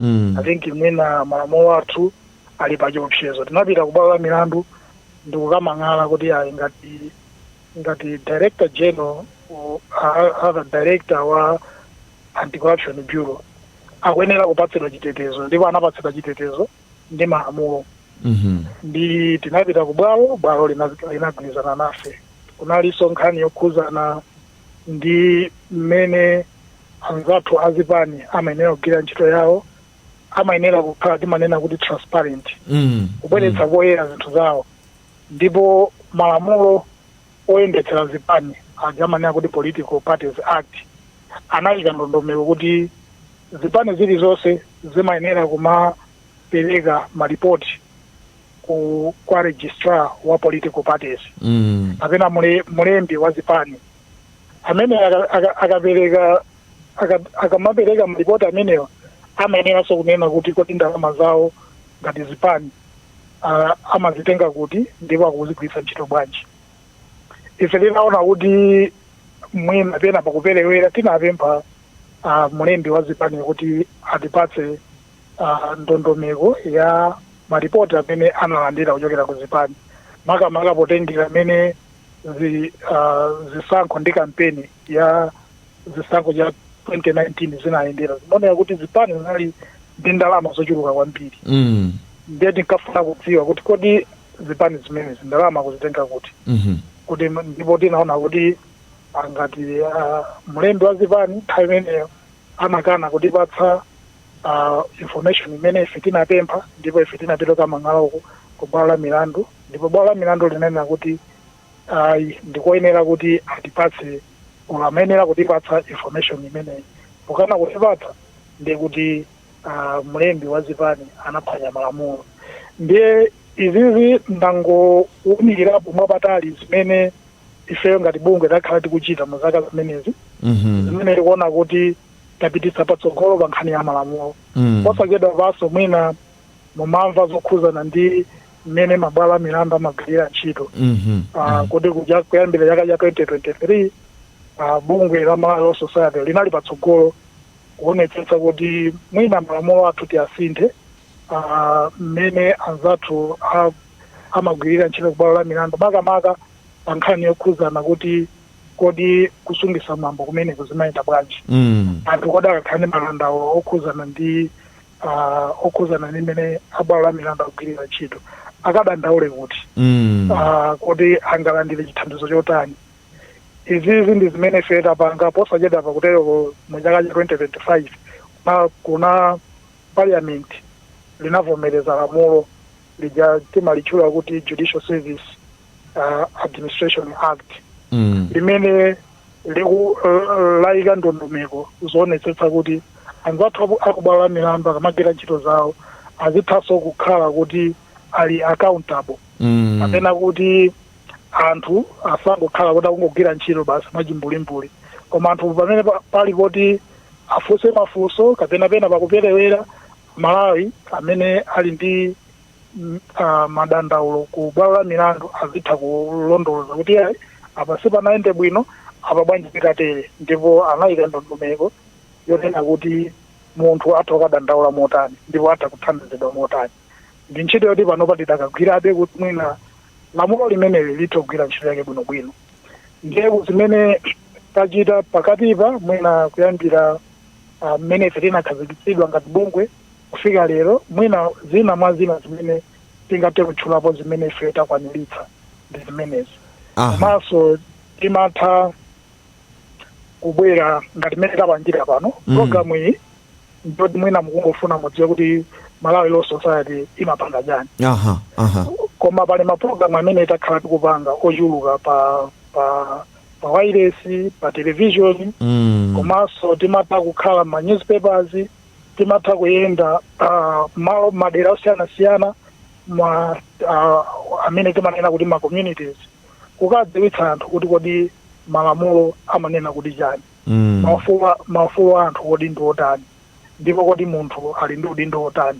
Mm. i think mwina malamulo athu ali pa chiopsezo tinapita ku bwalo la milandu ndi kukamang'ala kuti ayi ngati ngati director general or a- other director wa anti-corruption bureau akuyenera kupatsidwa chitetezo ndipo anapatsidwa chitetezo ndi malamulo Mhm. ndi tinapita ku bwalo bwalo lina- linagwirizana nafe kunalinso nkhani yokhuzana ndi mmene anzathu azipani amayenera kugwirira ntchito yawo amayenera kukhala timanena kuti transparent Mm. kubweretsa poyera zinthu zawo ndipo malamulo oyendetsera zipani aja amanena kuti political parties act anayika ndondomeko kuti zipani zilizonse zimayenera kumapereka malipoti ku kwa registrar wa political parties mm. kapena mule, mulembi wa zipani amene aka- aka- akapereka aka- akamapereka malipoti amenewa amayeneranso kunena kuti kodi ndalama zawo ngati zipani ah, amazitenga kuti ndipo akuzigwiritsa ntchito bwanji ife tinaona kuti mwina penapake pakuperewera tinapempha ah, mulembi wa zipani kuti atipatse uh, ndondomeko ya maripoti amene analandira kuchokera ku zipani makamaka potengera mmene zi, uh, zisankho ndi kampeni ya zisankho cha 2019 zinayendera zinaoneka kuti zipani zinali ndi ndalama zochuluka kwambiri mm. ndiye tinkafuna kudziwa kuti kodi zipani zimenezi ndalama akuzitenga kuti mhm. kuti ndipo tinaona kuti ngati uh, mlembi wa zipani nthawi imeneyo anakana kutipatsa uh, information imene ife tinapempha ndipo ife tinapita kukamang'ala ku bwalo la milandu ndipo bwalo la milandu linanena kuti ayi ndikoyenera kuti atipatse olo amayenera kutipatsa information imeneyi pokana kutipatsa ndiye kuti uh, mlembi wa zipani anaphwanya malamulo ndiye izizi ndangowunikirapo mwapatalipatali zimene ifeyo ngati bungwe takhala tikuchita mu zaka zimenezi Mhm. zimene tikuona kuti tapititsa patsogolo pa nkhani ya malamulo Mm. posachedwapanso mwina mumamva zokhuzana ndi mmene mabwalo a milandu amagwirira ntchito Mhm. Ah, kuti kuja- kuyambira chaka cha 2023 ah, bungwe la malawi law society linali patsogolo kuonetsetsa kuti mwina malamulo athu tiyasinthe ah, mmene anzathu a amagwirira ntchito kubwalo la milandu makamaka pa nkhani yokhudzana kuti kodi kusungitsa mwambo kumeneko zimayenda bwanji Mm. anthu kodi akakhala ndi madandaulo okhudzana ndi ah, okhudzana ndi mmene abwalo la milandu akugwirira ntchito akadandaule kuti Mm. Ah, kodi angalandire chithandizo chotani izizi ndi zimene ife tapanga posachedwa pakutereko mu chaka cha 2025 kuna parliament linavomereza lamulo lija timalitchula kuti judicial service uh, administration act mm. limene liku uh, layika ndondomeko zoonetsetsa kuti anzathu aku- akubwalo la milandu akamagwira ntchito zawo azithanso kukhala kuti ali accountable Mm. kapena kuti anthu asangokhala kuti akungogwira ntchito basi mwachimbulimbuli koma anthu pamene pa- pali poti afunse mafunso kapena pena pakuperewera Malawi amene ali ndi mm, ah, madandaulo ku bwalo la milandu azitha kulondoloza kuti ayi apa sipanayende bwino apa bwanji zikatere ndipo anayika ndondomeko yonena kuti munthu atha kukadandaula motani ndipo atha kuthandizidwa motani ndi ntchito yoti panopa tidakagwirabe kuti mwina lamulo limeneli litha kugwira ntchito yake bwinobwino ndiye zimene tachita pakatipa mwina kuyambira ah, mmene ife tinakhazikitsidwa ngati bungwe kufika lero mwina zina mwa zina zimene tingathe kutchulapo zimene ife takwaniritsa ndi zimenezi Aha. komanso timatha kubwera ngati mmene tapangira pano Mm. programu iyi ndi yoti mwina mukungofuna mudziwe kuti malawi law society imapanga chani aha aha koma pali mapulogalamu amene takhala tikupanga ochuluka pa pa pa wailesi pa television Mm. komanso timatha kukhala ma newspapers timatha kuyenda ah, malo madera osiyanasiyana ma ah, amene timanena kuti ma communities kukadziwitsa anthu kuti kodi malamulo amanena kuti chani Mm. maufulu a- maufulu a anthu kodi ndi otani ndipo kodi munthu ali ndi udindo otani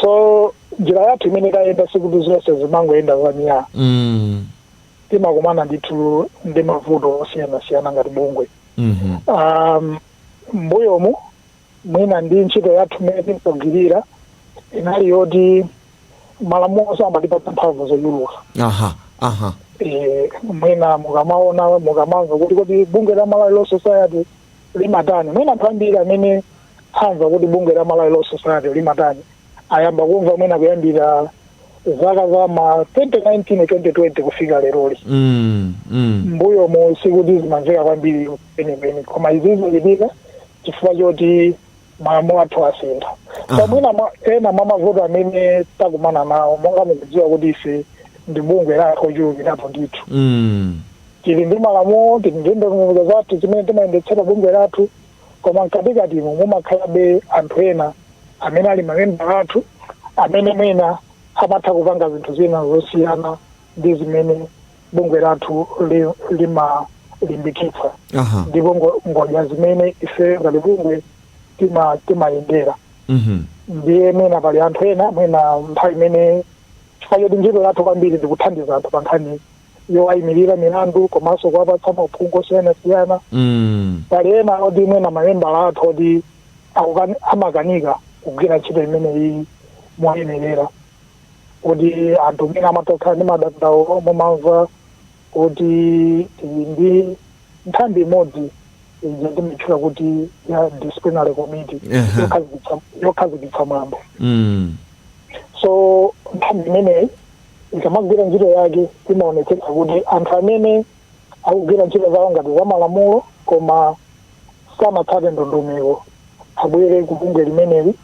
so njira yathu imene tayenda sikuti zonse zimangoyenda za myaa mm. timakumana ndithu ndi mavuto osiyanasiyana ngati bungwe mhm, um, mbuyomu mwina ndi ntchito yathu imene tinkagwirira inali yoti malamulo samatipatsa mphamvu zochuluka aha aha Eh, mwina mukamaona mukamamva kuti kodi bungwe la malawi law society limatani? Mwina anthu ambiri amene amva kuti bungwe la Malawi Law Society limatani ayamba kumva mwina kuyambira zaka za ma 2019 2020 kufika leroli Mm, mm. mbuyo mu sikuti zimamveka kwambiri kwenikweni koma izi zikuchitika chifukwa choti malamulo athu asintha Aha. so mwina mwa- ena mwa mavuto amene takumana nawo monga mukudziwa kuti ife ndi bungwe la anthu ochulukirapo ndithu Mm. tili ndi malamulo tili ndi ndondomeko zathu zimene timayendetsera bungwe lathu koma mkatikatimo mumakhalabe anthu ena amene ali mamembala athu amene mwina amatha kupanga zinthu zina zosiyana ndi zimene bungwe lathu li- limalimbikitsa aha ndipo ngo- ngodya zimene ife ngati bungwe tima- timayendera mhm ndiye mwina pali anthu ena mwina nthawi imene chifukwa choti ntchito yathu kwambiri ndikuthandiza anthu pa nkhani yowayimirira milandu komanso kuwapatsa mauphungu osiyanasiyana mm pali ena oti mwina mamembala athu oti akukani- amakanika kugwira ntchito imeneyi moyenerera kuti anthu mwina amatha kukhala ndi madandaulo mumamva kuti tili ndi nthambi imodzi ija timatchula kuti ya disciplinary committee Aha. yokhazikitsa- yokhazikitsa mwambo Mm. so nthambi imeneyi ikamagwira ntchito yake imaonetsetsa kuti anthu amene akugwira ntchito zawo ngati za malamulo koma sanatsate ndondomeko abwere ku bungwe limeneli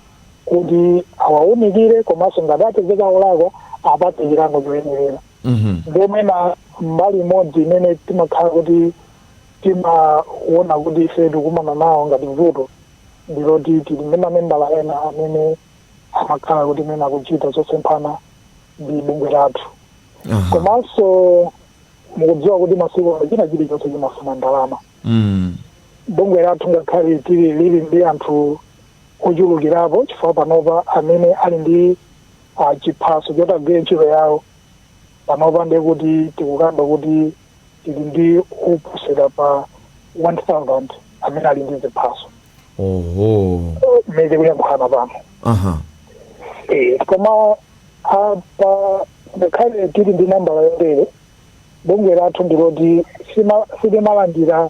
kuti awaunikire komanso ngati apezeka olakwa apatsidwe chilango choyenerera Mhm. ndiye mwina mbali imodzi imene timakhala kuti timaona kuti ife tikumana nawo ngati vuto ndiloti tili ndi mamembala ena amene amakhala kuti mwina akuchita zosemphana ndi bungwe lathu Aha. komanso mukudziwa kuti masiku ano china chilichonse chimafuna ndalama mm. bungwe lathu ngakhale tili lili ndi anthu ochulukirapo chifukwa panopa amene ali ndi ah, chiphaso choti agwire ntchito yawo panopa ndiye kuti tikukamba kuti tili ndi oposera pa 1000 amene ali ndi ziphaso oho mmene tikuyankhulana pano aha Eh, koma apa ngakhale tili ndi nambala yotere Bungwe lathu ndi loti silimalandira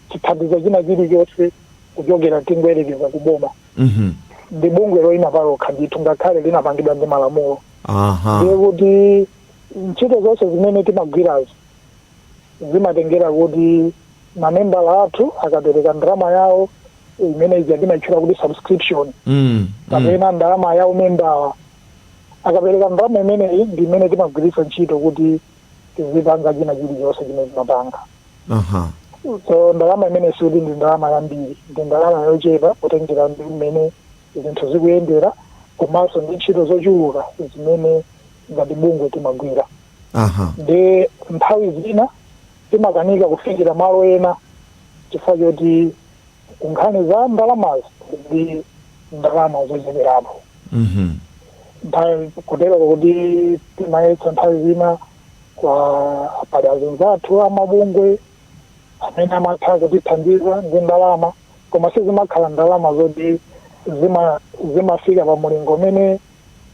chithandizo china chilichonse kuchokera tingoyerekeza ku boma mhm. ndi bungwe loyima palokha ndithu ngakhale linapangidwa ndi malamulo ndiye kuti ntchito zonse zimene timagwirazo zimatengera kuti mamembala athu akapereka ndalama yawo imene ija timaitchula kuti subscription mm, kapena mm. ndalama ya umembawa akapereka ndalama imeneyi ndi imene timagwiritsa ntchito kuti tizipanga china chilichonse chimene timapanga uh -huh. so ndalama imene sikuti ndi ndalama yambiri ndi ndalama yochepa potengera ndi mmene zinthu zikuyendera komanso ndi ntchito zochuluka zimene ngati bungwe timagwira uh -huh. ndi nthawi zina timakanika kufikira malo ena chifukwa choti nkhani za ndalamazi ndi ndalama zocheperapo Mhm. nthawi kotero kuti timayesa nthawi zina kwa pali azinzathu amabungwe amene amatha kutithandiza ndi ndalama koma sizimakhala ndalama zoti zima- zimafika pa mulingo umene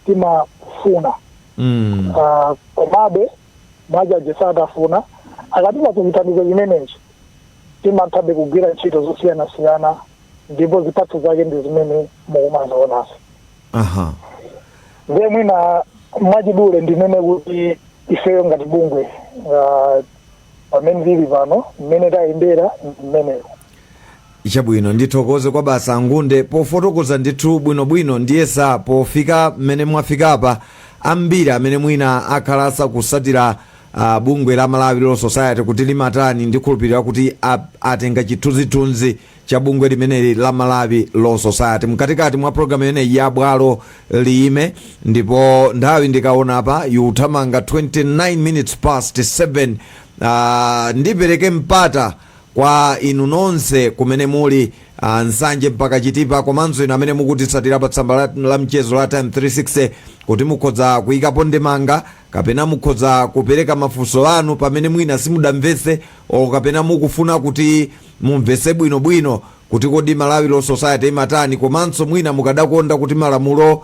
timafuna Mm. Ah, komabe mwajaji satafuna akatipatsa chithandizo chimenechi timathabe kugwira ntchito zosiyanasiyana ndipo zipatso zake ndi zimene mukumazionazo aha ndiye mwina mwachidule ndinene kuti ifeyo ngati bungwe ah, pamene tili pano mmene tayendera ndi mmenemo Chabwino, ndithokoze kwa bwana Ngunde pofotokoza ndithu bwinobwino ndiyesa pofika mmene mwafikapa ambiri amene mwina akhala asakutsatira uh, bungwe la Malawi Law Society kuti limatani ndikhulupirira kuti ap- atenga chithunzithunzi cha bungwe limeneli la Malawi Law Society mkatikati mwa programu imeneyi ya bwalo liime ndipo nthawi ndikaona apa ikuthamanga 29 minutes past 7 uh, ndipereke mpata Kwa inu nonse kumene muli, ah Nsanje mpaka Chitipa komanso inu amene mukutitsatira pa tsamba la, la mchezo la Times 360 kuti mukhoza kuyikapo ndemanga kapena mukhoza kupereka mafunso anu pamene mwina simudamvetse o kapena mukufuna kuti mumvetse bwinobwino kuti kodi Malawi Law Society imatani komanso mwina mukadakonda kuti malamulo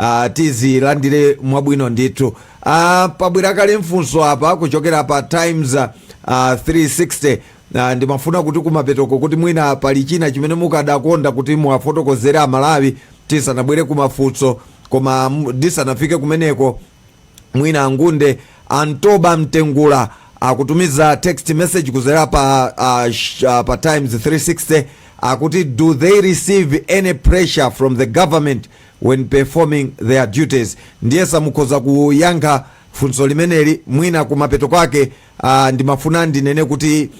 Ah, tizilandire mwabwino ndithu ah, pabwera kale funso apa kuchokera pa times ah, 360 ah, ndimafuna kuti kumapetoko kuti mwina pali china chimene mukadakonda kuti muwafotokozere amalawi tisanabwere kumafunso koma m- ndisanafike kumeneko mwina angunde antoba mtengula akutumiza text message kuzera pa, uh, sh, uh, pa times 360 akuti do they receive any pressure from the government when performing their duties ndiyesa mukhoza kuyankha funso limeneli mwina kumapeto kwake uh, ndimafuna ndinene kuti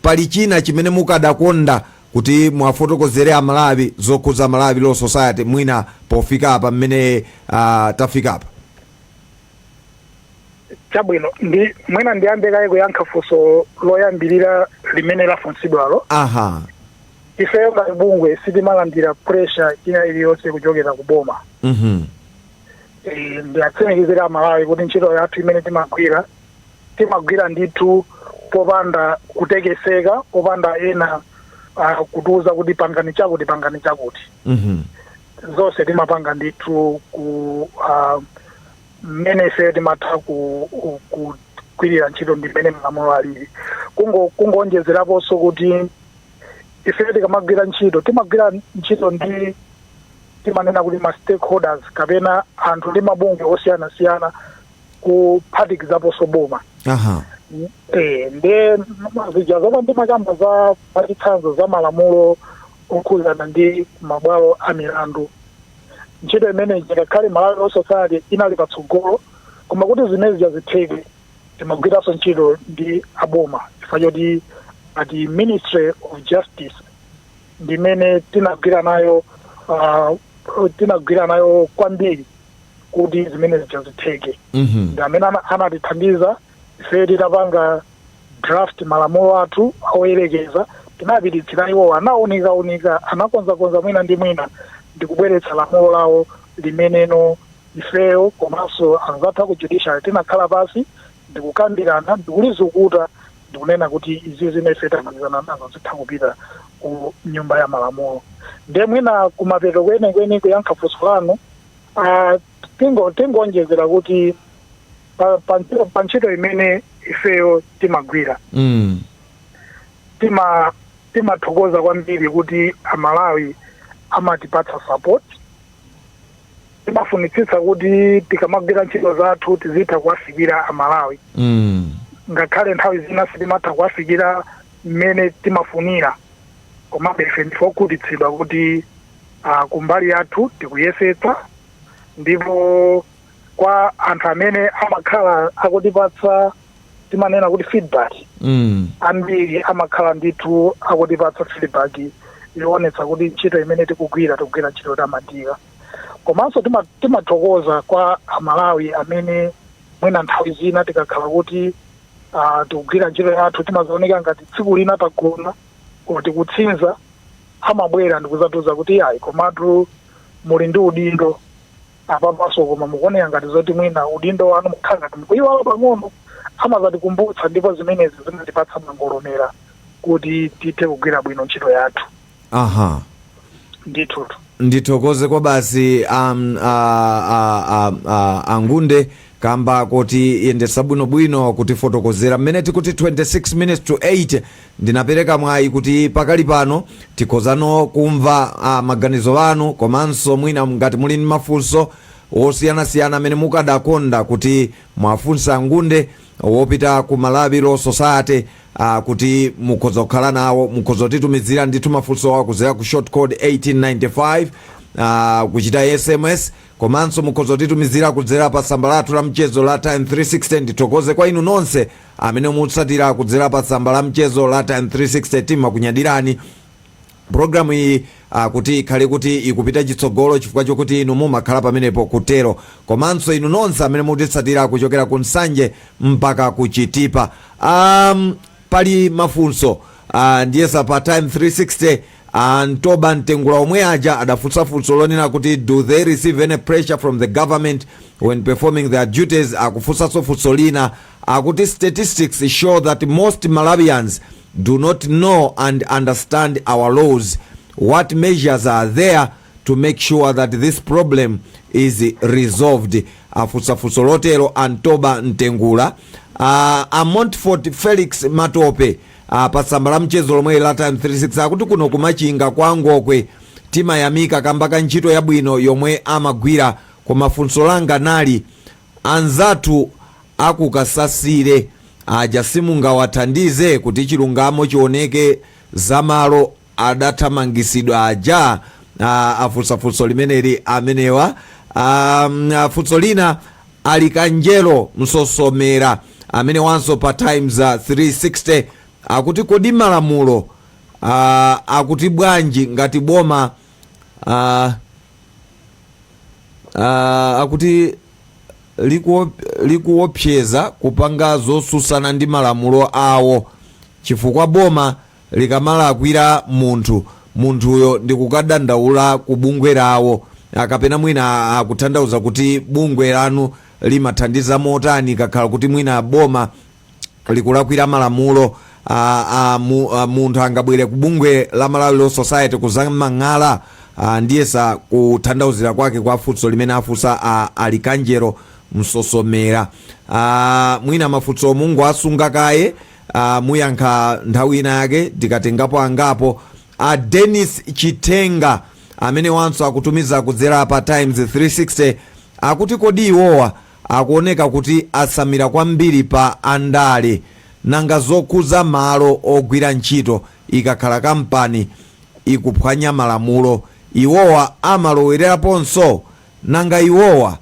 pali china chimene mukadakonda kuti muwafotokozere a Malawi zokhudza Malawi Law Society mwina pofika apa mmene ah, tafika apa? chabwino ndi mwina ndiyambe kaye kuyankha funso loyambirira limene lafunsidwalo Aha. ifeyo ngati bungwe sitimalandira pressure ina iliyonse kuchokera ku boma Mhm. Eh, ndiwatsimikizire amalawi kuti ntchito yathu imene timagwira timagwira ndithu popanda kutekeseka popanda ena uh, kutiuza kuti pangani chakuti pangani chakuti Mhm. zonse timapanga ndithu ku uh, mmene ife timatha ku, kugwirira ntchito ndi mmene malamulo alili Kungo- kungoonjezeraponso kuti ife tikamagwira ntchito timagwira ntchito ndi timanena kuti ma stakeholders kapena anthu ndi mabungwe osiyanasiyana kuphatikizaponso boma aha Eh, nde zija zomwe ndimakamba za pachitsanzo za malamulo okhudzana ndi mabwalo a milandu ntchito imeneyi ngakhale malawi law society inali patsogolo koma kuti zimene zija zitheke timagwiranso ntchito ndi aboma chifukwa choti a ministry of justice ndimene tinagwira nayo ah, tinagwira nayo kwambiri kuti zimene zija zitheke Mhm. ndi amene ana- anatithandiza ife titapanga draft malamulo athu oyerekeza tinapititsira iwowo anaunikaunika anakonzakonza mwina ndi mwina ndi kubweretsa lamulo lawo limeneno ifeyo komanso anzathu ku judiciary tinakhala pasi ndikukambirana ndikulizukuta ndikunena kuti izi zimene ife tamalizana nazo zitha kupita ku nyumba ya malamulo ndiye mwina kumapeto kwenikweni kuyankha funso lanu Ah, tingo tingonjezera kuti pa- pa- pa ntchito imene ifeyo timagwira mm. tima timathokoza kwambiri kuti amalawi amatipatsa support timafunitsitsa kuti tikamagwira ntchito zathu tizitha kuwafikira amalawi Mm. ngakhale nthawi zina sitimatha kuwafikira mmene timafunira komabe ife ndife okhutitsidwa kuti Uh, kumbali yathu tikuyesetsa ndipo kwa anthu amene amakhala akutipatsa timanena kuti feedback mm. ambiri amakhala ndithu akutipatsa feedback yoonetsa kuti ntchito imene tikugwira tikugwira ntchito yotamandika komanso tima- timathokoza kwa amalawi amene mwina nthawi zina tikakhala kuti ah, tikugwira ntchito yathu timazaoneka ngati tsiku lina tagona or tikutsinza amabwera ndikuzatiuza kuti iyayi komatu muli ndi udindo apapanso koma mukuoneka ngati zoti mwina udindo wanu mukhala ngati mukuyiwala pang'ono amazatikumbutsa ndipo zimenezi zimatipatsa mangolomera kuti tithe kugwira bwino ntchito yathu aha ndithutu ndithokoze kwa basi um, a, a, a, a, angunde kamba kotiyendetsa bwinobwino kutifotokozera mmene tikuti 26 minutes to 8 Ndinapereka mwayi kuti pakali pano tikhozano kumva a, maganizo anu komanso mwina ngati muli ndi mafunso wosiyanasiyana amene mukadakonda kuti muwafunse a Ngunde okhudza ku Malawi Law Society a, kuti mukhoza kukhala nawo, mukhoza kutitumizira ndithu mafunsowa kudzera ku short code 1895 a, kuchita sms komanso mukhoza kutitumizira kudzera pa tsamba lathu la mchezo la Times 360. Ndithokoze kwa inu nonse Amene mutitsatira kudzera pa tsamba la mchezo la Times 360 timakunyadirani. Programu iyi kuti ikhale kuti ikupita chitsogolo chifukwa chokuti inu mumakhala pamenepo kutero komanso inu nonse amene mutitsatira kuchokera ku Nsanje mpaka ku Chitipa. Um, pali mafunso uh, ndiyesa pa Times 360 a Ntoba Mtengula omwe aja adafunsa funso lonena kuti do they receive any pressure from the government when performing their duties akufunsanso funso lina Akuti statistics show that most Malawians do not know and understand our laws, what measures are there to make sure that this problem is resolved? afunsa funso lotero a Ntoba Mtengula uh, a Montfort Felix Matope uh, pa tsamba la mchezo lomwe la Times 36 akuti kuno ku Machinga kwa Ngokwe timayamika kamba ka ntchito yabwino yomwe amagwira koma funso langa nali Anzathu a ku Kasasire aja simungawathandize kuti chilungamo chioneke za malo adathamangisidwa aja? Aaa afunsa funso limeneli amenewa aah funso lina Alikanjelo Msosomera amenewanso pa Times 360 akuti kodi malamulo aah akuti bwanji ngati boma aah. Ah, akuti likuo- likuopseza kupanga zosusana ndi malamulo awo chifukwa boma likamalakwira munthu munthuyo ndikukadandaula ku bungwe lawo a, kapena mwina akutanthauza kuti bungwe lanu limathandiza motani kukakhala kuti mwina boma Likulakwira malamulo a, a, mu, a, munthu angabwere ku bungwe la Malawi Law Society kuzamang'ala a, ndiyesa kutanthauzira kwake kwa funso limene afunsa a, Alikanjero Msosomera a, mwina mafunso mungowasunga kaye a, muyankha nthawi ina yake tikatengapo angapo a Dennis Chitenga amenewanso akutumiza kudzera pa Times 360 akuti kodi iwowa akuoneka kuti atsamira kwambiri pa andale. Nanga zokhuza malo ogwira ntchito ikakhala kampani ikuphwanya malamulo iwowa amaloweleraponso? Nanga iwowa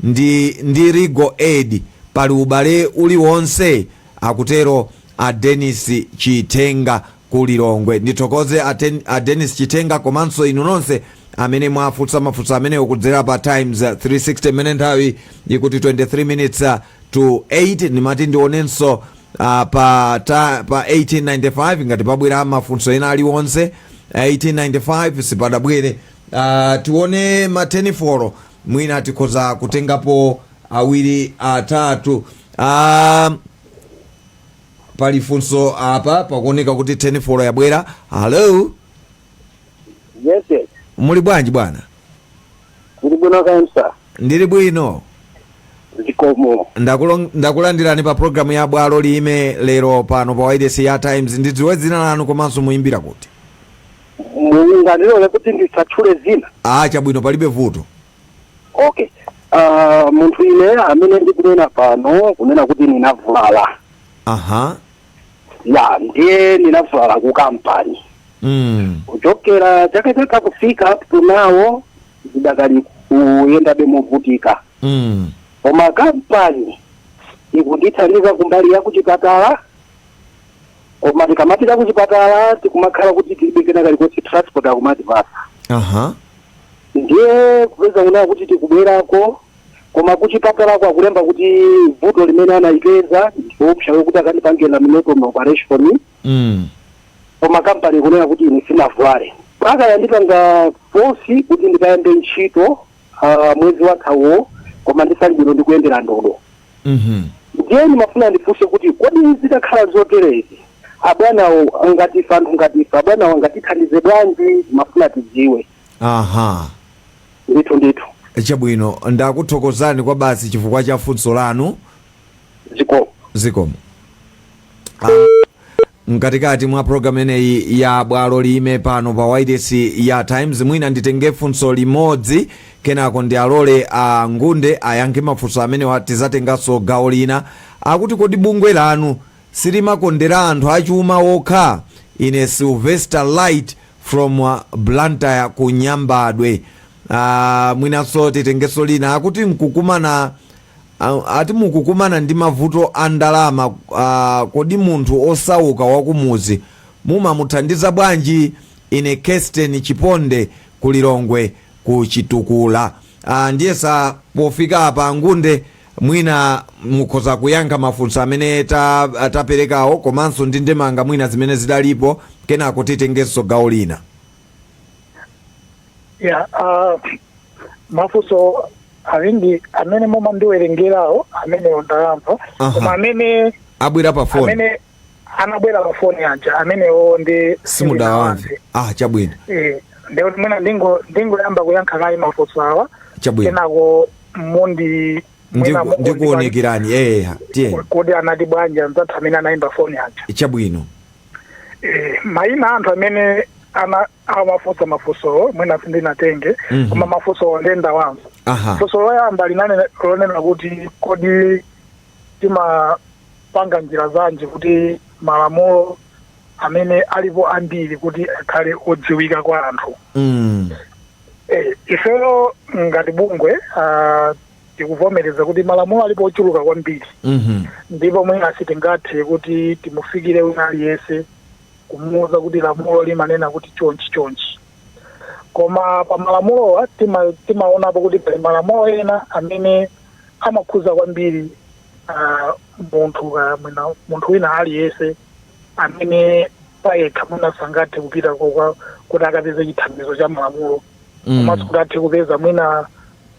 ndi Legal Aid pali ubale uliwonse? akutero a Dennis Chitenga ku Lilongwe. Ndithokoze a ten, a Dennis Chitenga komanso inu nonse amene mwafunsa mafunso amenewo kudzera pa Times uh, 360 imene nthawi ikuti 23 minutes uh, to 8 ndimati ndionenso uh, pa, ta, pa 1895 ngati pabwera mafunso ena aliwonse 1895 sipadabwere uh, tione ma tenifoni mwina tikhoza kutengapo awiri atatu uh, pali funso apa pakuoneka kuti tenifoni yabwera hallo Yes, yes. muli bwanji bwana Ndili bwino kansa. ndili bwino Zikomo. Ndakulo- ndakulandirani pa programu ya bwalo liime lero pano pa wailesi ya times ndidziwe dzina lanu komanso muyimbira kuti Mungandilole kuti ndisatchule dzina. a chabwino palibe vuto okay uh, munthu ine amene ndikunena pano kunena kuti ndinavulala aha ya ndiye ndinavulala ku kampani mm. kuchokera chaka chatha kufika up to now ndidakali kuyendabe movutika Mm. koma kampani ikundithandiza kumbali ya kuchipatala koma tikamapita kuchipatala tikumakhala kuti tilibe kena kalikonse transport akumatipasa aha ndiye kupeza kunena kuti tikubwerako koma kuchipatalako akulemba kuti vuto limene anayipeza ndiopsa yokuti akandipange laminectomy operation mm. koma kampani kunena kuti ine sinavulale mpaka yandipanga fosi kuti ndikayambe ntchito ah, mwezi wathawo koma ndisali bwino ndikuyendera ndodo Mhm. ndiye ndimafuna ndifunse kuti kodi zitakhala zoterezi abwanawo ngati ife anthu ngati ife abwanawo angatithandize bwanji mafuna tidziwe aha ndithu ndithu chabwino ndakuthokozani kwa basi chifukwa cha funso lanu zikomo zikomo Ah, Mkatikati mwa program imeneyi ya bwalo liime pano pa wailesi ya Times, mwina nditenge funso limodzi kenako ndiwalole a Ngunde ayankhe mafunso amenewa. Tizatenganso gawo lina. Akuti kodi bungwe lanu silimakondera anthu achuma okha? Ine Sylvester Light from uh, Blantyre ku Nyambadwe. Uh, mwinanso titengenso lina akuti nkukumana Ati mukukumana ndi mavuto a ndalama, kodi munthu osauka wakumudzi mumamuthandiza bwanji? Ine Kesten Chiponde ku Lilongwe ku Chitukula. Ndiyesa pofika apa a Ngunde mwina mukhoza kuyankha mafunso amene taperekawo komanso ndi ndemanga mwina zimene zidalipo, kenako titengenso gawo lina. ya ah, mafunso awiri amene mumandiwerengerawo amenewo ndayamva Aha. koma amene abwera pa foni amene anabwera pa foni aja amenewo ndi sindinawamve ah chabwino Eh, ndiye mwina ndingo ndingoyamba kuyankha kaye mafunso awa chabwino kenako mundi mwina Ndiku- mukundi ndikuonekerani eya tiyeni bwanji- kodi anati bwanji anzathu amene anayimba foni aja chabwino Eh, maina a anthu amene ana amafunsa mafunsowo mwina sindinatenge Mhm. koma mafunsowo ndinawamva aha funso loyamba linali lonena kuti kodi timapanga njira zanji kuti malamulo amene alipo ambiri kuti akhale odziwika kwa anthu mm. Eh, ifeyo ngati bungwe ah, tikuvomereza kuti malamulo alipo ochuluka kwambiri Mhm. ndipo mwina sitingathe kuti timufikire wina aliyense kumuwuza kuti lamulo limanena kuti chonchi chonchi koma pa malamulowa tima- timaonapo kuti pali malamulo ena amene amakhuza kwambiri ah, munthu ka- mwina- munthu wina aliyense amene payekha mwina sangathe kupita ku khoti kuti akapeze chithandizo cha malamulo komanso kuti athe kupeza mwina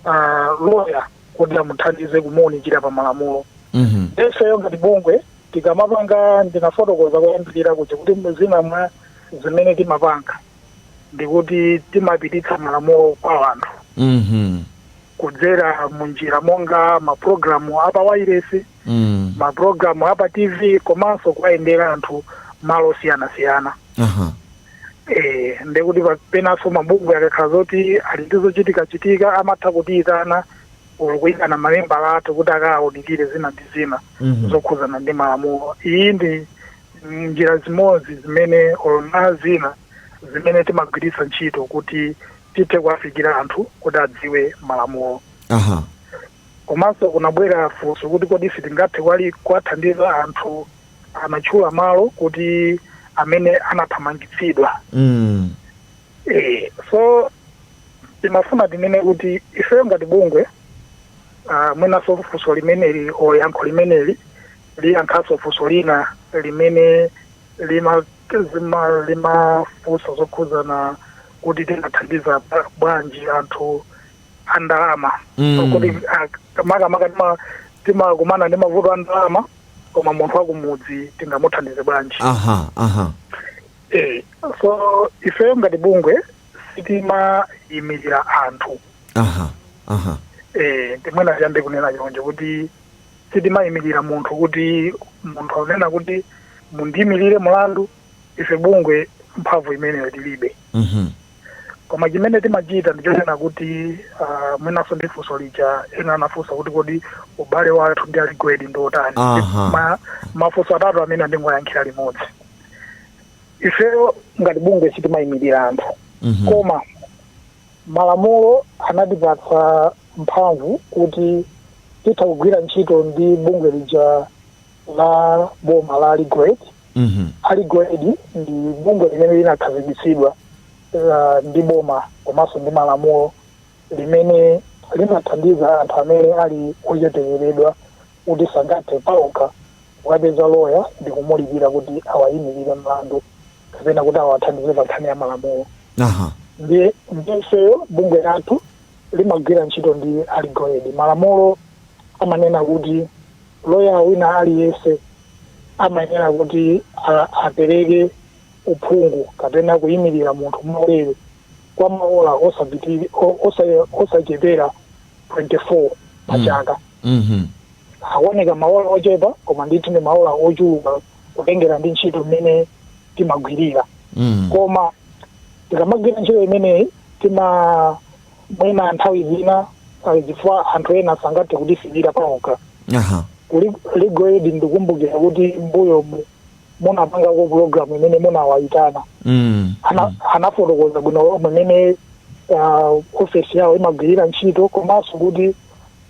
ah, lawyer kuti amuthandize kumuunikira pa malamulo Mhm. nde ifeyo ngati bungwe tikamapanga ndinafotokoza koyambirira kuti kuti zina mwa zimene timapanga ndikuti timapititsa malamulo kwa anthu Mhm. kudzera mu njira monga mapulogalamu a pa wailesi Mm. mapulogalamu a pa tv komanso kuwayendera anthu malo osiyanasiyana Aha. Eh, ndiye kuti pa- penanso mabungwe akakhala zoti ali ndi zochitikachitika amatha kutiyitana or kuyitana ma member athu kuti akawaunikire zina ndi zina Mhm. zokhudzana ndi malamulo iyi ndi njira zimodzi zimene or na zina zimene timagwiritsa ntchito kuti tithe kuwafikira anthu kuti adziwe malamulo aha komanso kunabwera funso kuti kodi sitingathe kwali kuwathandiza anthu anatchula malo kuti amene anathamangitsidwa mm. e, so timafuna tinene kuti ifeyo ngati bungwe uh, mwinaso funso limeneli o yankho limeneli liyankhaso funso lina limene lima zima limafunsa zokhudzana kuti tingathandiza bwanji anthu andalama mm. so, kuti uh, makamaka timakumana ndi mavuto andalama koma munthu wakumudzi tingamuthandize bwanji aha aha eh, so ifeyo ngati bungwe sitimayimirira anthu aha aha eh, ndiye mwina tiyambe kunena chonje kuti sitimayimirira munthu kuti munthu akunena kuti mundiyimirire mulandu ife bungwe mphamvu imeneyo tilibe Mhm. koma chimene timachita ndichonena kuti ah, mwinanso ndi funso lija ena anafunsa kuti kodi ubale wathu ndi a Legal Aid ndi otani Aha. Ma- mafunso atatu amenewa ndingoyankhira limodzi ifeyo ngati bungwe sitimayimirira anthu Mhm. koma malamulo anatipatsa mphamvu kuti titha kugwira ntchito ndi bungwe lija la boma la Legal Aid Mhm. a Legal Aid ndi bungwe limene linakhazikitsidwa uh, ndi boma komanso ndi malamulo limene limathandiza anthu amene ali ochepekedwa kuti sangathe paokha kukapeza loya ndi kumulipira kuti awayimirire mlandu kapena kuti awathandize pa nkhani ya malamulo aha ndiye ifeyo bungwe lathu limagwira ntchito ndi a Legal Aid malamulo amanena kuti Loya wina aliyense amayenera kuti apereke uphungu kapena kuimirira munthu mwaulere kwa maola osachepera 24 pa mm. chaka. Mm-hmm. Akuoneka maola ochepa koma ndithu ndi maola ochuluka kutengera ndi ntchito mmene timagwirira. Mm. Koma tikamagwira ntchito imeneyi tima mwina nthawi zina pali zifukwa anthu ena sangathe kutifikira paokha aha Ku Legal Aid ndikumbukira kuti m'mbuyo mu- munapangako pulogalamu imene munawayitana mm. Ana- anafotokoza bwino lomwe mmene ah, ofesi yawo imagwirira ntchito komanso kuti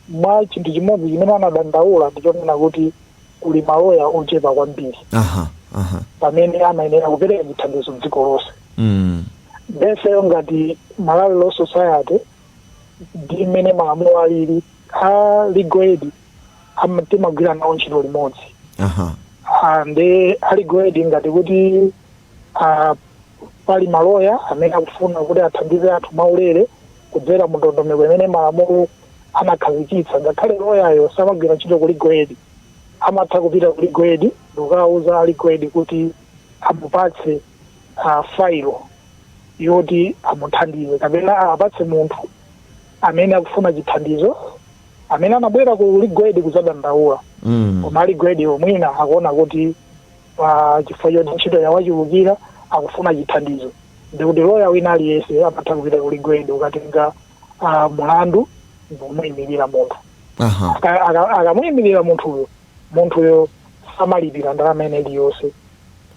mwa chinthu chimodzi chimene anadandaula ndichonena kuti kuli maloya ochepa kwambiri aha aha pamene amayenera kupereka chithandizo dziko lonse mm. nde ifeyo ngati malawi law society ndi mmene malamulo alili a legal aid am- timagwira nawo ntchito limodzi aha Ah, nde a legal aid ngati kuti ah, pali maloya amene akufuna kuti athandize anthu mwaulere kudzera mu ndondomeko imene malamulo anakhazikitsa ngakhale loyayo samagwira ntchito ku legal aid amatha kupita ku legal aid ndikukawuza a legal aid kuti amupatse a failo yoti amuthandize kapena apatse munthu amene akufuna chithandizo amene anabwera ku legal aid kuzadandaula Mm. koma a legal aid-wo mwina akuona kuti pa chifukwa choti ntchito yawachulukira akufuna chithandizo ndikuti loya wina aliyense amatha kupita ku legal aid kukatenga ah, mulandu ndikumuyimirira munthu Aha. Aka- aka- akamuyimirira munthuyo munthuyo samalipira ndalama ina iliyonse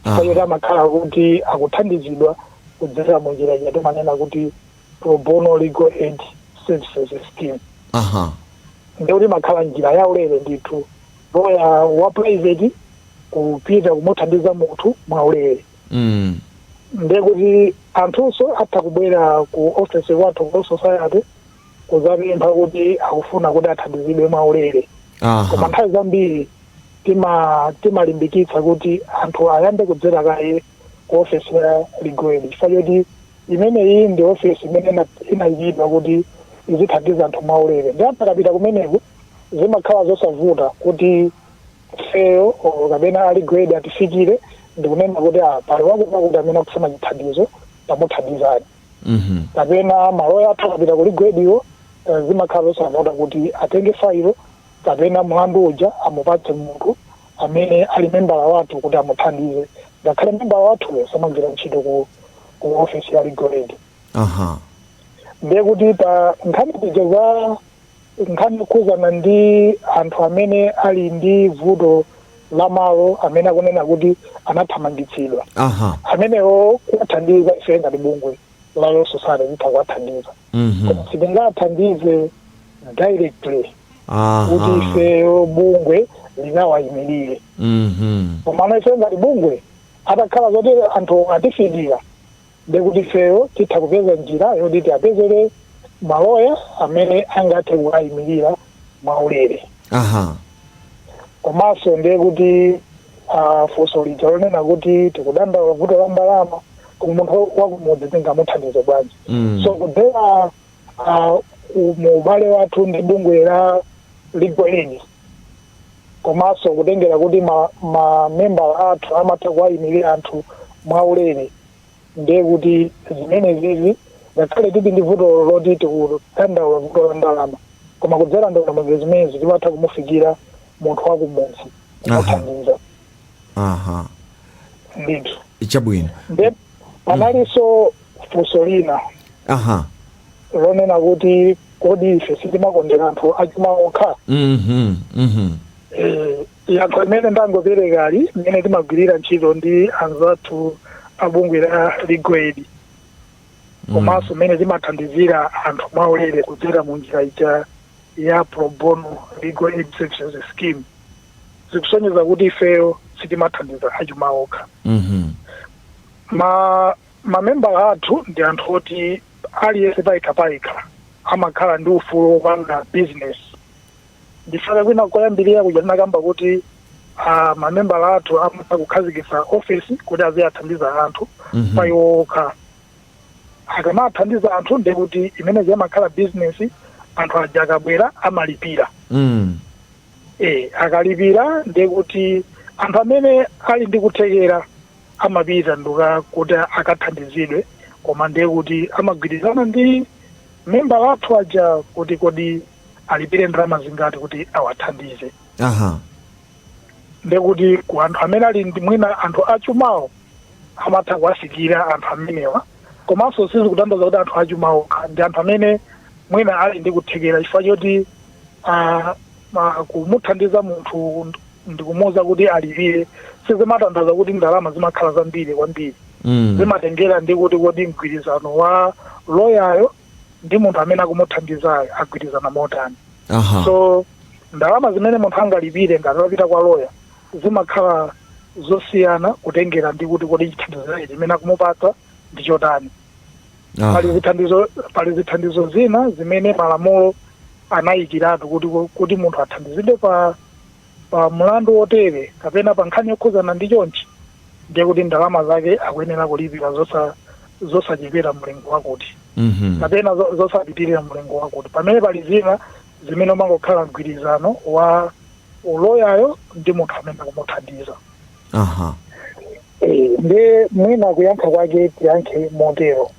chifukwa choti amakhala kuti akuthandizidwa kudzera mu njira ija timanena kuti pro bono legal aid services scheme aha ndekuti imakhala njira ya ulere ndithu loya wa private kupita kumuthandiza munthu mwa ulere mm. ndekuti anthunso atha kubwera ku office kwathu ku society kudzapempha kuti akufuna kuti athandizidwe mwaulere koma aha nthawi zambiri tima- timalimbikitsa kuti anthu ayambe kudzera kaye ku ofesi ya legal aid chifukwa choti imeneyi ndi ofesi imene ina- inayikidwa kuti izithandiza anthu mwaulere nde anthu akapita kumeneko zimakhala zosavuta kuti ifeyo kapena a legal aid atifikire ndikunena kuti ah, pali wakuti wakuti amene akufuna chithandizo tamuthandizeni Mhm. kapena maloya athu akapita ku legal aid-ko eh, zimakhala zosavuta kuti atenge failo kapena mlandu uja amupatse munthu amene ali membala wathu kuti amuthandize ngakhale membala wathuyo samagwira ntchito ku, ku ofesi ya legal aid Aha. ndiye kuti pa nkhani zija za Nkhani yokhuzana ndi anthu amene ali ndi vuto la malo amene akunena kuti anathamangitsidwa. Aha. Amenewo kuwathandiza ife ngati bungwe la Law Society titha kuwathandiza. Mhm. Koma sitingawathandize directly kuti Aha. ifeyo bungwe likawayimirire. Mhm. Koma ana ife ngati bungwe atakhala zoti anthu atifikira ndiye kuti ifeyo titha kupeza njira yoti tiwapezere maloya amene angathe kuwayimirira mwaulere aha komanso ndiye kuti ah, funso lija lonena kuti tikudandaula vuto la ndalama koma munthu wakumudzi tingamuthandize bwanji Mm. so kudzera ah, ku- mu ubale wathu ndi bungwe la legal aid komanso kutengera kuti ma, ma membala athu amatha kuwayimirira anthu mwaulere ndiye kuti zimenezizi ngakhale tili ndi vuto loti tikudandaula vuto la ndalama koma kudzera ndondomeko zimenezi timatha kumufikira munthu wakumudzi kumuthandiza aha ndithu chabwino Nde- panalinso funso lina aha lonena kuti kodi ife sitimakondera anthu achuma okha mhm mhm Eh, yankho ndi limene ndangoperekali mmene timagwirira ntchito ndi anzathu a bungwe la Legal Aid komanso mmene timathandizira anthu mwaulere kudzera mu njira ija ya pro bono legal aid services scheme zikusonyeza kuti ifeyo sitimathandiza achuma okha Mhm. ma mamembala athu ndi anthu oti aliyense payekha payekha amakhala ndi ufulu wopanga business ndipaka kwina koyambirira kuja tinakamba kuti ah, mamembala athu amatha kukhazikitsa ofesi kuti aziwathandiza anthu Mhm. pa iwo okha akamathandiza anthu ndiye kuti imeneyi amakhala bizinesi anthu aja akabwera amalipira Mm. e, akalipira ndiye kuti anthu amene ali ndi kuthekera amapita nduka kuti akathandizidwe koma ndiye kuti amagwirizana ndi membala athu aja kuti kodi alipire ndalama zingati kuti awathandize Aha. ndiye kuti ku anthu amene ali ndi mwina anthu achumawo amatha kuwafikira anthu amenewa komanso sizikutanthauza kuti anthu achuma okha ndi anthu amene mwina ali ndi kuthekera chifukwa choti ah, ma- kumuthandiza munthu ndikumuwuza kuti alipire sizimatanthauza kuti ndalama zimakhala zambiri kwambiri Mm. zimatengera ndi kuti kodi mgwirizano wa loyayo ndi munthu amene akumuthandizayo agwirizana motani Aha. so ndalama zimene munthu angalipire ngati wapita kwa loya zimakhala zosiyana kutengera ndi kuti kodi chithandizo chake chimene akumupatsa ndi chotani Aha. pali zithandizo pali zithandizo zina zimene malamulo anayikiratu kuti kuti munthu athandizidwe pa pa mlandu wotere kapena pa nkhani yokhudzana ndi chonchi ndiye kuti ndalama zake akuyenera kulipira zosa zosachepera mlingo wakuti Mhm. kapena zo- zosapitirira mlingo wakuti pamene pali zina zimene umangokhala mgwirizano wa loyayo ndi munthu amene akumuthandiza aha Eh, ndiye mwina kuyankha kwake tiyankhe motero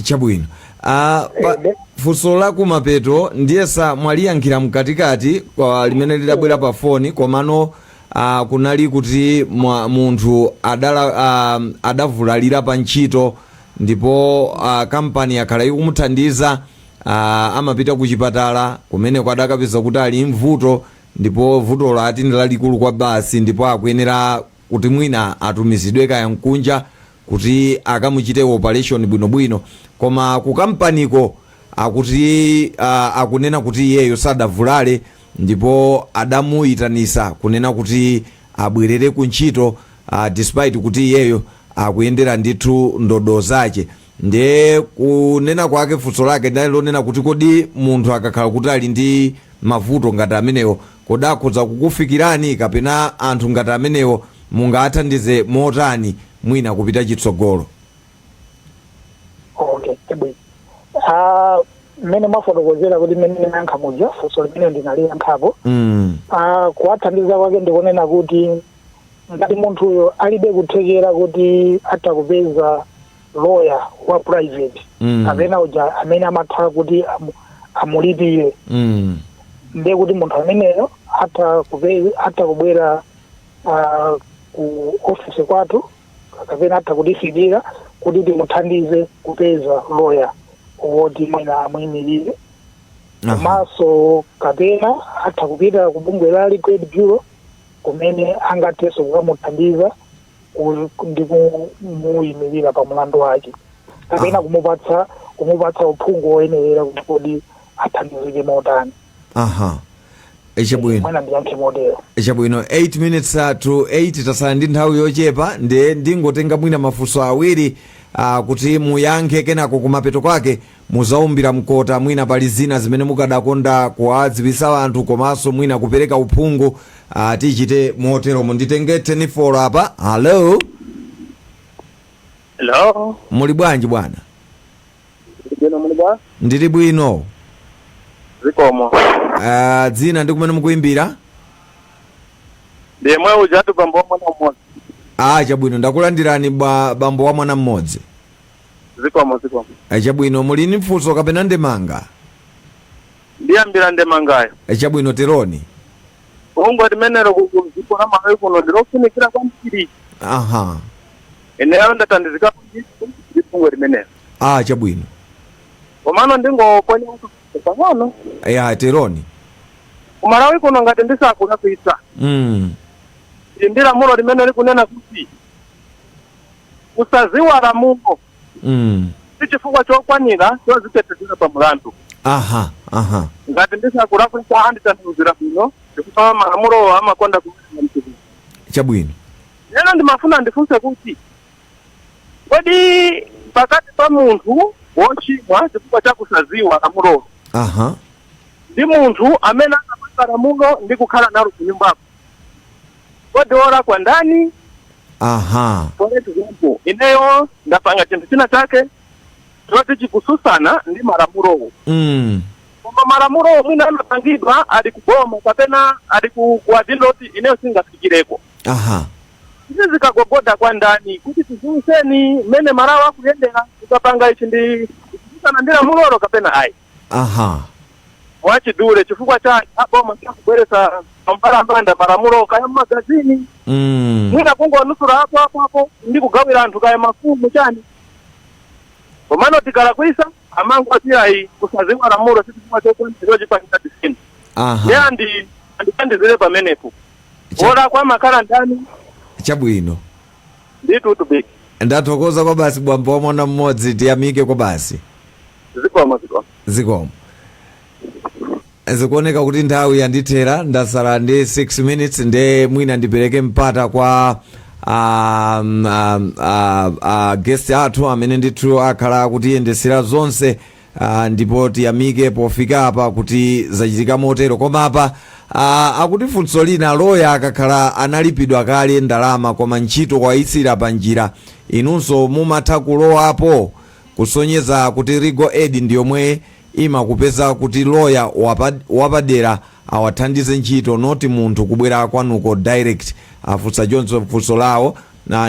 Chabwino. Ah, pa, Inde. funso la kumapeto ndiyesa mwaliyankhira mkatikati kwa limene lidabwera pa foni komano ah, kunali kuti mwa, munthu adala, ah, adavulalira pa ntchito ndipo ah, kampani yakhala ikumuthandiza ah, amapita ku chipatala kumeneko adakapeza kuti ali ndi vuto ndipo vutolo ati ndi lalikulu kwabasi ndipo akuyenera kuti mwina atumizidwe kaya kunja kuti akamuchite operation bwinobwino koma ku kampaniko akuti uh, akunena kuti iyeyo sadavulale ndipo adamuyitanisa kunena kuti abwerere ku ntchito uh, despite kuti iyeyo akuyendera ndithu ndodo zache ndiye kunena kwake funso lake linali lonena kuti kodi munthu akakhala kuti ali ndi mavuto ngati amenewo kodi akhoza kukufikirani kapena anthu ngati amenewo mungawathandize motani mwina kupita chitsogolo okay chabwino Ah, mmene mwafotokozera kuti mmene ndinayankha muja funso limene ndinaliyankhapo mm. Ah, kuwathandiza kwake ndikunena kuti ngati munthuyo alibe kuthekera kuti atha kupeza loya wa private Mm. kapena uja amene amatha kuti amu- amulipire Mm. ndiye kuti munthu ameneyo atha kupe- atha kubwera ah, ku ofisi kwathu kapena atha kutifikira kuti timuthandize kupeza loya woti mwina amuyimirire Aha. komanso kapena atha kupita ku bungwe la Legal Aid Bureau kumene angathenso kukamuthandiza ndi kumuyimirira pa mlandu wake kapena ah. kumupatsa kumupatsa uphungu woyenerera kuti kodi athandizike motani aha chabwino ndiyankhe motero chabwino 8 minutes uh, to 8 tasala ndi nthawi yochepa ndiye ndingotenga mwina mafunso awiri uh, kuti muyankhe kenako kumapeto kwake Muzaumbira mkota mwina pali zina zimene mukadakonda kuwadziwisa anthu komaso mwina kupereka uphungu ah tichite moteromo nditenge telefoni apa hallo Hello. muli bwanji bwana Ndibwino muli bwa? ndili bwino Zikomo. ah dzina ndi kumene mukuimbira Ndi yemwe ujatu bambo wa mwana mmodzi. ah chabwino ndakulandirani ba, bambo wa mwana mmodzi zikomo zikomo Eh, chabwino muli ndi funso kapena ndemanga ndiyambira ndemangayo Eh, chabwino teroni bungwe limenelo kudziko la malawi kuno ndilofunikira kwambiri aha ineyo ndathandizika kwambiri ndi bungwe limenelo ah chabwino komano ndingoponya pang'ono ya teroni kumalawi kuno ngati ndisakulakwitsa mm. ndi lamulo limene likunena kuti kusaziwa lamulo mm. si chifukwa chokwanira chozitetezera pa mulandu aha aha ngati ndisakulakwisa anditanthauzira bwino chifukwa malamulowo amakonda kuaa mtiri chabwino ndiye ndimafuna ndifunse kuti kodi pakati pa munthu wochimwa chifukwa cha kusaziwa lamulolo aha ndi munthu amene anapanga lamulo ndi kukhala nalo kunyumbako kodi wolakwa ndani aha for example ineyo ndapanga chinthu china chake choti chikususana ndi malamulowo mm. koma malamulowo mwina amapangidwa ali kuboma kapena ali ku ku adindo oti ineyo singafikireko aha izi zikagogoda kwa ndani kuti tiziwiseni mmene malamulo akuyendera tikapanga ichi chikususana ndi lamulolo kapena ayi Aha. mwachidule chifukwa cha aboma kubweretsa pambalambanda malamulo kaya mmagazini Mm. mwina kungonunsula apo apo apo ndi kugawira anthu kaya mafumu chani komano tikalakwisa amangoti ayi kusaziwa lamulo sichifukwa chokwanira chipanisa tisini Aha. ndi andi andithandizire pamenepo Cha- wolakwa amakhala ndani Chabwino. ndithu tu big ndathokoza kwa basi bambo wa mwana mmodzi tiyamike kwa basi zikomo zikomo zikomo zikuoneka kuti nthawi yandithera ndasala ndi 6 minutes nde mwina ndipereke mpata kwa um, um, uh, uh, guest athu amene ndithu akhala akutiyendesera zonse Ah, ndipo tiyamike pofika apa kuti zachitika motero koma apa ah, akuti funso lina loya akakhala analipidwa kale ndalama koma ntchito wayisiyira pa njira inunso mumatha kulowapo kusonyeza kuti legal aid ndi yomwe imakupeza kuti loya wapa- wapadera awathandize ntchito not munthu kubwera kwanuko direct afunsa choncho funso lawo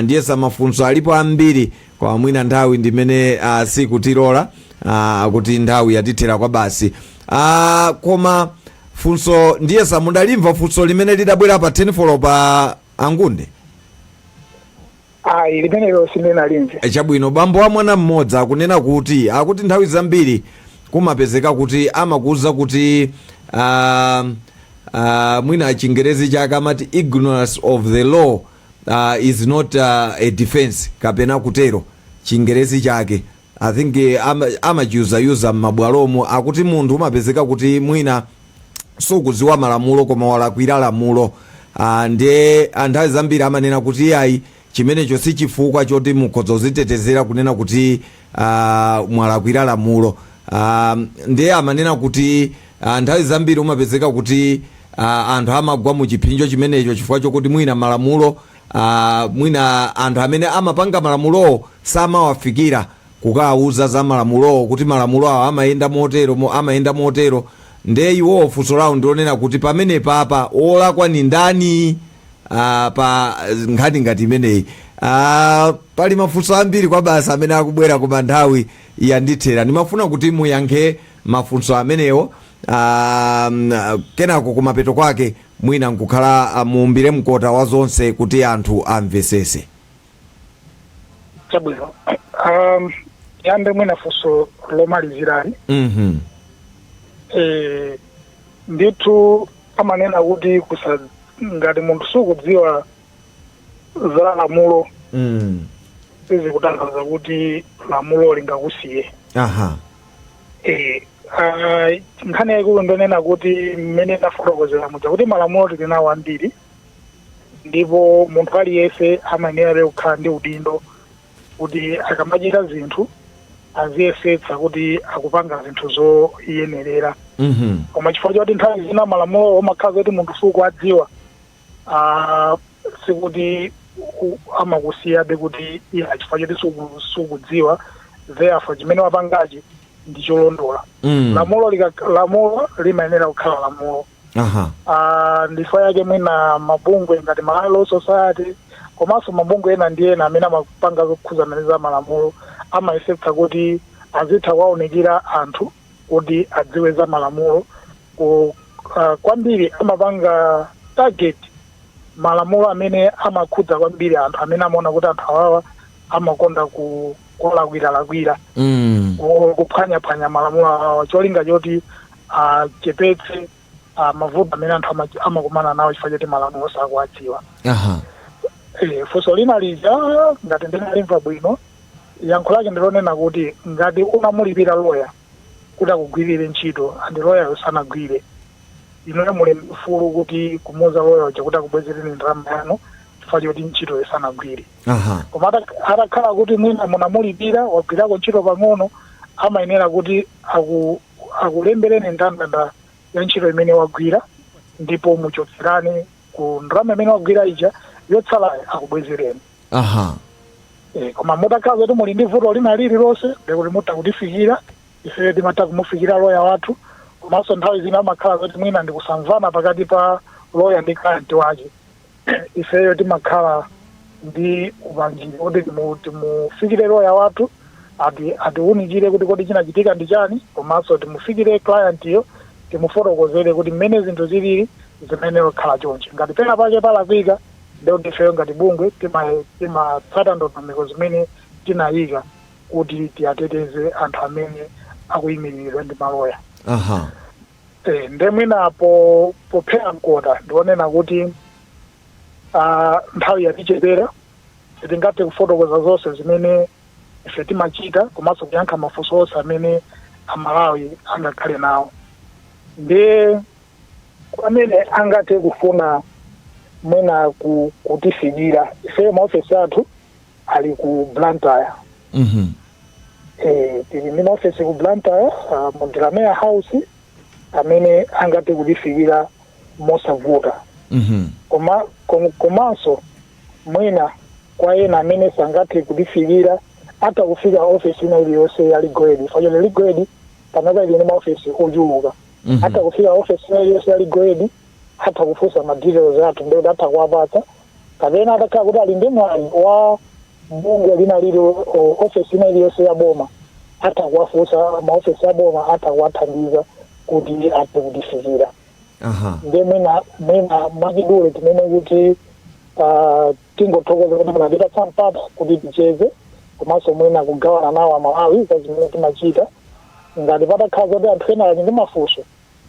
ndiyesa mafunso alipo ambiri Koma mwina nthawi ndimene uh, sikutilora uh, kuti nthawi yatithera kwa basi uh, koma funso ndiyesa mudalimva funso limene lidabwera pa 10 folo pa angunde ayi limenelo sindinalimve E, chabwino bambo wa mwana mmodzi akunena kuti akuti nthawi zambiri kumapezeka kuti amakuuza kuti uh, uh, mwina chingerezi chake amati ignorance of the law uh, is not uh, a defense kapena kutero chingerezi chake i think eh, ama- amachiuzauza m'mabwalomo akuti munthu umapezeka kuti mwina sukudziwa malamulo koma walakwira lamulo Ah, ndiye nthawi zambiri amanena kuti iyayi chimenecho si chifukwa choti mukhoza kuzitetezera kunena kuti ah, mwalakwira lamulo ah, ndiye amanena kuti ah, nthawi zambiri umapezeka kuti ah, anthu amagwa mu chiphinjo chimenecho chifukwa chokuti mwina malamulo ah, mwina anthu amene amapanga malamulowo samawafikira kukawauza za malamulowo kuti malamulo awo amayenda motero mo- amayenda motero ndiye iwowo funso lawo ndilonena kuti pamene papa wolakwa ni ndani ah, pa nkhani ngati imeneyi ah, pali mafunso ambiri kwabasi amene akubwera koma nthawi yandithera ndimafuna kuti muyankhe mafunso amenewo ah, mm, ah, kenako kumapeto kwake mwina nkukhala ah, muumbire mkota wa zonse kuti anthu amvesese chabwino um, ndiyambe mwina funso lomaliziralo mhm eh, Ndithu amanena kuti kusa, ngati munthu sukudziwa za lamulo Mm. sizikutanthauza kuti lamulo lingakusiye Aha. Eh, ah, nkhani yaikulu ndonena kuti mmene ndafotokozera muja kuti malamulo tili nawo ambiri ndipo munthu aliyense amayenerabe kukhala ndi udindo kuti akamachita zinthu aziyesetsa kuti akupanga zinthu zoyenerera Mhm. koma chifukwa choti nthawi zina malamulo amakhala zoti munthu sukuwadziwa ah, sikuti u- amakusiyabe kuti iya chifukwa choti suku- sukudziwa therefore chimene wapangachi ndi cholondola Mm. lamulo lika- lamulo limayenera kukhala lamulo aha Ah, ndi chifukwa chake mwina mabungwe ngati Malawi Law Society komanso mabungwe ena ndi ena amene amapanga zokhuzana ndi za malamulo amayesetsa kuti azitha kuwaunikira anthu kuti adziwe za malamulo ku ah, kwambiri amapanga target malamulo amene amakhudza kwambiri anthu amene amaona kuti anthu awawa amakonda ku kulakwiralakwira Mm. o- kuphwanyaphwanya malamulo awo cholinga choti achepetse ah, mavuto amene anthu ama- amakumana nawo chifukwa choti malamulo sakuwadziwa Aha. Eh, funso lina lija ngati ndinalimva bwino yankho lake ndilonena kuti ngati unamulipira loya kuti akugwirire ntchito and loyayo sanagwire inuyo muli mfulu kuti kumuuza loya uja kuti akubwezereni ndalama yanu chifukwa choti ntchito sanagwire aha koma atak- atakhala kuti mwina munamulipira wagwirako ntchito pang'ono amayenera kuti aku, akulembereni ndandanda ya ntchito imene wagwira ndipo muchotserane ku ndalama imene wagwira ija yotsalayo akubwezereni aha Eh, koma mutakhala kuti muli ndi vuto lina lililonse ndikuti mutha kutifikira ifeyo timatha kumufikira loya wathu komanso nthawi zina amakhala kuti mwina ndikusamvana pakati pa loya ndi client wake ifeyo timakhala ndi upangiri kuti timu- timufikire loya wathu ati- atiwunikire kuti kodi chinachitika ndi chani komanso timufikire clientyo timufotokozere kuti mmene zinthu zilili zimayenera kukhala chonchi ngati pena pake palakwika ndekuti ifeyo ngati bungwe tima- timatsata ndondomeko zimene tinayika kuti tiwateteze anthu amene akuyimiriridwa ndi maloya aha Eh, nde mwina po- pophera mkota ndikunena kuti ah, nthawi yatichepera sitingathe kufotokoza zonse zimene ife timachita komanso kuyankha mafunso onse amene amalawi angakhale nawo ndiye kwa amene angathe kufuna mwina ku- kutifikira ife maofesi athu ali ku blantyre Mhm. Eh, tili ndi maofesi ku blantyre ah, mu Delamere House amene angathe kutifikira mosavuta Mhm. koma kom- komanso mwina kwa ena amene sangathe kutifikira atha kufika ofesi ina iliyonse ya Legal Aid mwachidule Legal Aid panopa ili ndi maofesi ochuluka Mhm. atha kufika ofesi ina iliyonse ya Legal Aid atha kufunsa ma details athu ndekuti atha kuwapatsa kapena atakhala kuti ali ndi mwayi wa bungwe lina lililo- ofesi ina iliyonse ya boma atha kuwafunsa maofesi a boma atha kuwathandiza kuti athe kutifikira aha nde mwina mwina mwachidule tinene kuti ah, tingothokoza kuti munatipatsa mpata kuti ticheze komanso mwina kugawana nawo amalawi za zimene timachita ngati patakhala zoti anthu ena ali ndi mafunso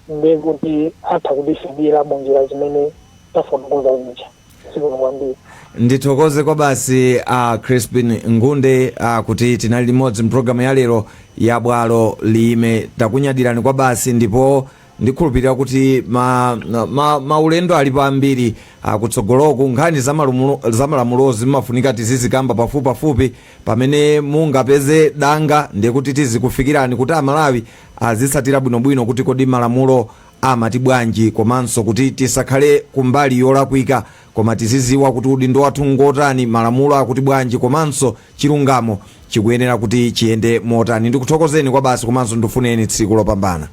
ndiye kuti atha kutifikira mu njira zimene tafotokoza zija. Zikomo kwambiri. ndithokoze kwabasi a crispin ngunde a, kuti tinali limodzi mpulogalamu ya lero ya bwalo liime takunyadirani kwabasi ndipo ndikhulupirira kuti ma, ma, maulendo alipo ambiri kutsogoloku nkhani za malumulo- za malamulozi zimafunika tizizikamba pafupipafupi pamene mungapeze danga ndiye kuti tizikufikirani kuti amalawi azitsatira bwinobwino kuti kodi malamulo amati bwanji komanso kuti tisakhale kumbali yolakwika koma tiziziwa kuti udindo wathu ngotani malamulo akuti bwanji komanso chilungamo chikuyenera kuti chiyende motani ndikuthokozeni kwa basi komanso ndikufunireni tsiku lopambana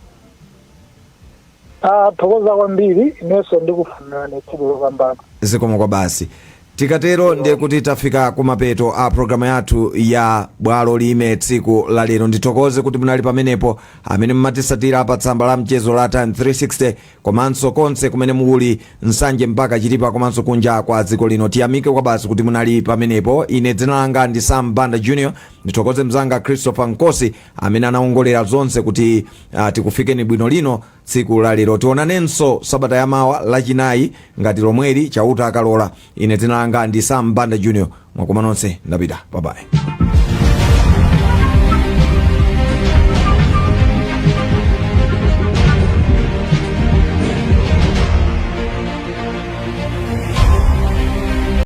Tathokoza kwambiri, inenso ndikufunirani tsiku lopambana. Zikomo kwabasi. Tikatero ndiye kuti tafika kumapeto a programu yathu ya Bwalo Liime tsiku la lero. Ndithokoze kuti munali pamenepo amene mumatisatira pa tsamba la mchezo la Times 360 komanso konse kumene muli Nsanje mpaka Chitipa komanso kunja kwa dziko lino. Tiyamike kwabasi kuti munali pamenepo. Ine dzina langa ndi Sam Banda Junior. Ndithokoze mzanga Christopher Nkosi amene anawongolera zonse kuti uh, tikufikeni bwino lino tsiku la lero tionanenso sabata yamawa lachinayi ngati lomweli chauta akalola ine dzina langa ndi sam banda junior mwakoma nonse ndapita bye bye